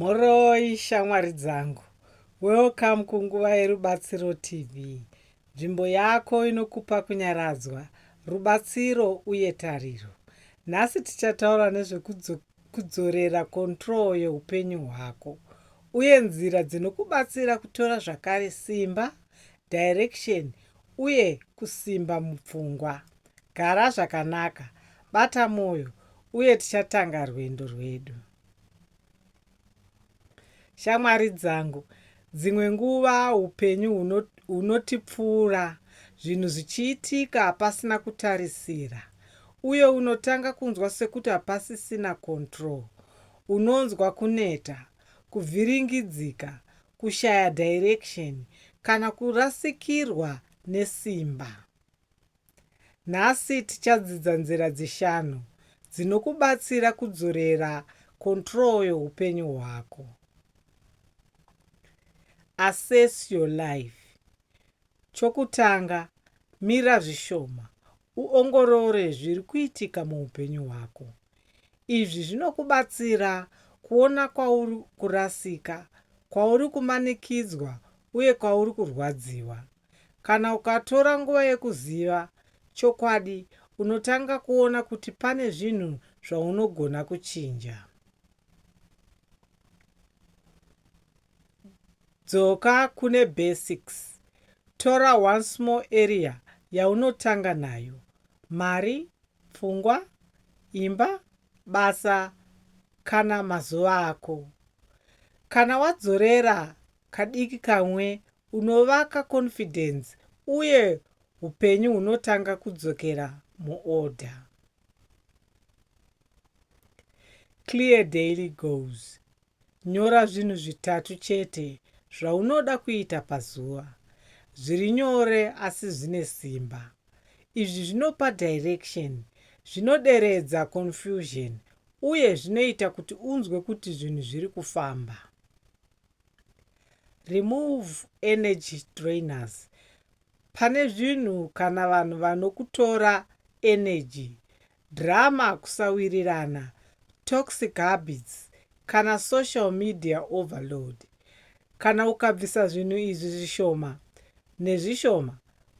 Mhoroi shamwari dzangu. Welcome kunguva yeRubatsiro TV. Nzvimbo yako inokupa kunyaradzwa, rubatsiro uye tariro. Nhasi tichataura nezvekudzorera control yeupenyu hwako uye nzira dzinokubatsira kutora zvakare simba, direction uye kusimba mupfungwa. Gara zvakanaka, bata moyo uye tichatanga rwendo rwedu. Shamwari dzangu, dzimwe nguva upenyu hunotipfuura zvinhu zvichiitika pasina kutarisira uye unotanga kunzwa sekuti hapasisina control. Unonzwa kuneta, kuvhiringidzika, kushaya direction kana kurasikirwa nesimba. Nhasi tichadzidza nzira dzishanu dzinokubatsira kudzorera control yeupenyu hwako. Assess your life. Chokutanga, mira zvishoma uongorore zviri kuitika muupenyu hwako. Izvi zvinokubatsira kuona kwauri kurasika, kwauri kumanikidzwa uye kwauri kurwadziwa. Kana ukatora nguva yekuziva chokwadi, unotanga kuona kuti pane zvinhu zvaunogona kuchinja. Dzoka kune basics. Tora one small area yaunotanga nayo, mari, pfungwa, imba, basa kana mazuva ako. Kana wadzorera kadiki kamwe unovaka confidence uye hupenyu hunotanga kudzokera muorder. Clear daily goals. Nyora zvinhu zvitatu chete zvaunoda kuita pazuva. Zviri nyore asi zvine simba. Izvi zvinopa direction, zvinoderedza confusion uye zvinoita kuti unzwe kuti zvinhu zviri kufamba. Remove energy drainers pane zvinhu kana vanhu vanokutora energy, drama kusawirirana, toxic habits kana social media overload. Kana ukabvisa zvinhu izvi zvishoma nezvishoma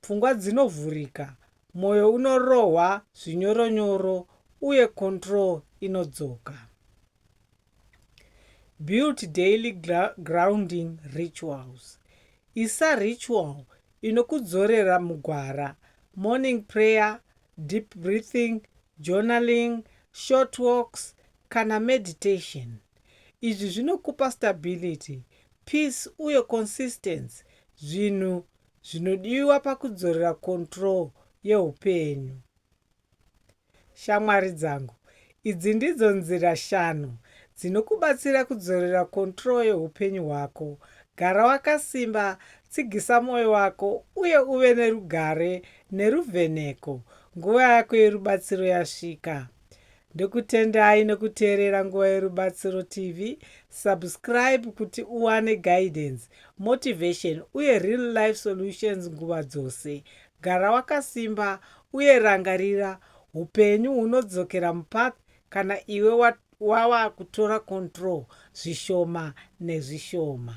pfungwa dzinovhurika, moyo unorohwa zvinyoronyoro uye control inodzoka. Build daily grounding rituals. Isa ritual inokudzorera mugwara, morning prayer, deep breathing, journaling, short walks kana meditation. Izvi zvinokupa stability, peace uye consistency, zvinhu zvinodiwa pakudzorera control yeupenyu. Shamwari dzangu, idzi ndidzo nzira shanu dzinokubatsira kudzorera control yeupenyu hwako. Gara wakasimba, tsigisa moyo wako uye uve nerugare neruvheneko. Nguva yako yerubatsiro yasvika. Ndokutendai nokuteerera Nguva Yerubatsiro TV. Subscribe kuti uwane guidance, motivation uye real life solutions nguva dzose. Gara wakasimba uye rangarira hupenyu hunodzokera mupath kana iwe wava kutora control zvishoma nezvishoma.